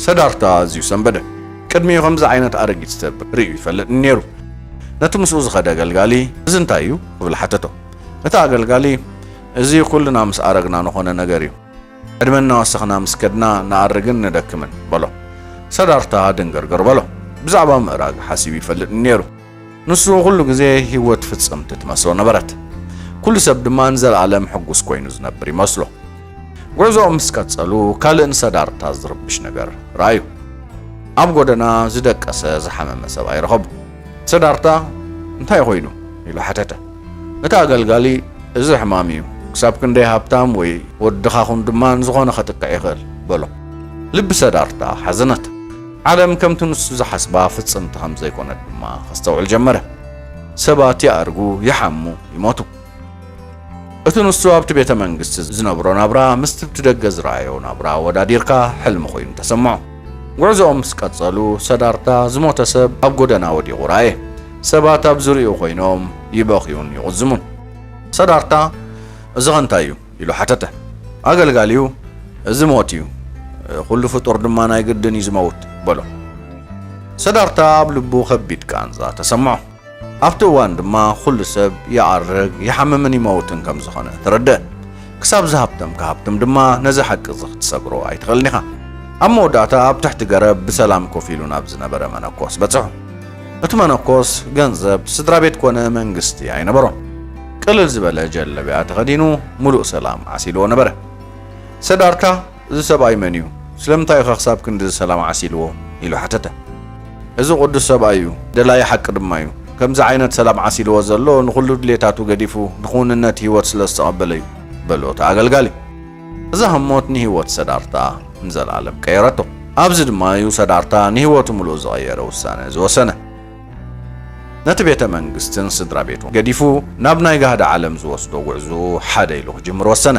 ሰዳርታ ኣዝዩ ሰንበደ። ቅድሚኡ ከምዚ ዓይነት ኣረጊት ሰብ ርእዩ ኣይፈልጥን ነይሩ። ነቲ ምስኡ ዝኸደ ኣገልጋሊ፣ እዚ እንታይ እዩ? ክብል ሓተቶ። እቲ ኣገልጋሊ፣ እዚ ኵልና ምስ ኣረግና ንዀነ ነገር እዩ። ዕድመ እናወሰኽና ምስ ከድና ንኣርግን ንደክምን፣ በሎ። ሰዳርታ ድንግርግር በሎ። ብዛዕባ ምእራግ ሓሲቡ ኣይፈልጥን ነይሩ። ንሱ ኩሉ ግዜ ህይወት ፍጽምቲ ትመስሎ ነበረት። ኩሉ ሰብ ድማ ንዘለኣለም ሕጉስ ኮይኑ ዝነብር ይመስሎ። ጉዕዞኦም ምስ ቀጸሉ ካልእ ንሰዳርታ ዝርብሽ ነገር ረኣዩ። ኣብ ጎደና ዝደቀሰ ዝሓመመ ሰብኣይ ረኸቡ። ሰዳርታ እንታይ ኮይኑ ኢሉ ሓተተ። እቲ ኣገልጋሊ እዚ ሕማም እዩ፣ ክሳብ ክንደይ ሃብታም ወይ ወድኻ ኩን ድማ ንዝኾነ ከጥቅዕ ይኽእል በሎ። ልቢ ሰዳርታ ሓዘነት። ዓለም ከምቲ ንሱ ዝሓስባ ፍጽምቲ ከም ዘይኰነት ድማ ከስተውዕል ጀመረ። ሰባት ይኣርጉ፣ ይሓሙ፣ ይሞቱ። እቲ ንሱ ኣብቲ ቤተ መንግስቲ ዝነብሮ ናብራ ምስቲ ብደገ ዝረኣዮ ናብራ ኣወዳዲርካ ሕልሚ ኰይኑ ተሰምዖ። ጕዕዞኦም ምስ ቀጸሉ፣ ሰዳርታ ዝሞተ ሰብ ኣብ ጐደና ወዲቑ ረኣየ። ሰባት ኣብ ዙርያኡ ኰይኖም ይበኽዩን ይቝዝሙን። ሰዳርታ፣ እዚኸ እንታይ እዩ? ኢሉ ሓተተ። ኣገልጋሊኡ፣ እዚ ሞት እዩ፣ ዅሉ ፍጡር ድማ ናይ ግድን እዩ ዚመውት፣ በሎ። ሰዳርታ ኣብ ልቡ ኸቢድ ቃንዛ ተሰምዖ። ኣብቲ እዋን ድማ ዅሉ ሰብ ይኣርግ፣ ይሓምምን ይመውትን ከም ዝዀነ ተረድአ። ክሳብ ዝሃብተምካ ሃብትም ድማ ነዚ ሓቂ እዚ ኽትሰግሮ ኣይትኽእልን ኢኻ። ኣብ መወዳእታ ኣብ ትሕቲ ገረብ ብሰላም ኮፍ ኢሉ ናብ ዝነበረ መነኮስ በጽሑ። እቲ መነኮስ ገንዘብ፣ ስድራ ቤት ኰነ መንግስቲ ኣይነበሮን። ቅልል ዝበለ ጀለብያ ተኸዲኑ ምሉእ ሰላም ዓሲልዎ ነበረ። ሰዳርታ እዚ ሰብኣይ መን እዩ? ስለምንታይ እዩኸ ክሳብ ክንድዚ ሰላም ዓሲልዎ? ኢሉ ሓተተ። እዚ ቅዱስ ሰብኣይ እዩ፣ ደላዪ ሓቂ ድማ እዩ። ከምዚ ዓይነት ሰላም ዓሲልዎ ዘሎ ንኹሉ ድሌታቱ ገዲፉ ንክውንነት ህይወት ስለ ዝተቐበለ እዩ፣ በሎ እቲ ኣገልጋሊ። እዛ ህሞት ንህይወት ሰዳርታ ንዘለኣለም ቀየረቶ። ኣብዚ ድማ እዩ ሰዳርታ ንህይወቱ ምሉእ ዝቐየረ ውሳነ ዝወሰነ። ነቲ ቤተ መንግስትን ስድራ ቤቱን ገዲፉ ናብ ናይ ጋህዲ ዓለም ዝወስዶ ጉዕዝኡ ሓደ ኢሉ ክጅምር ወሰነ።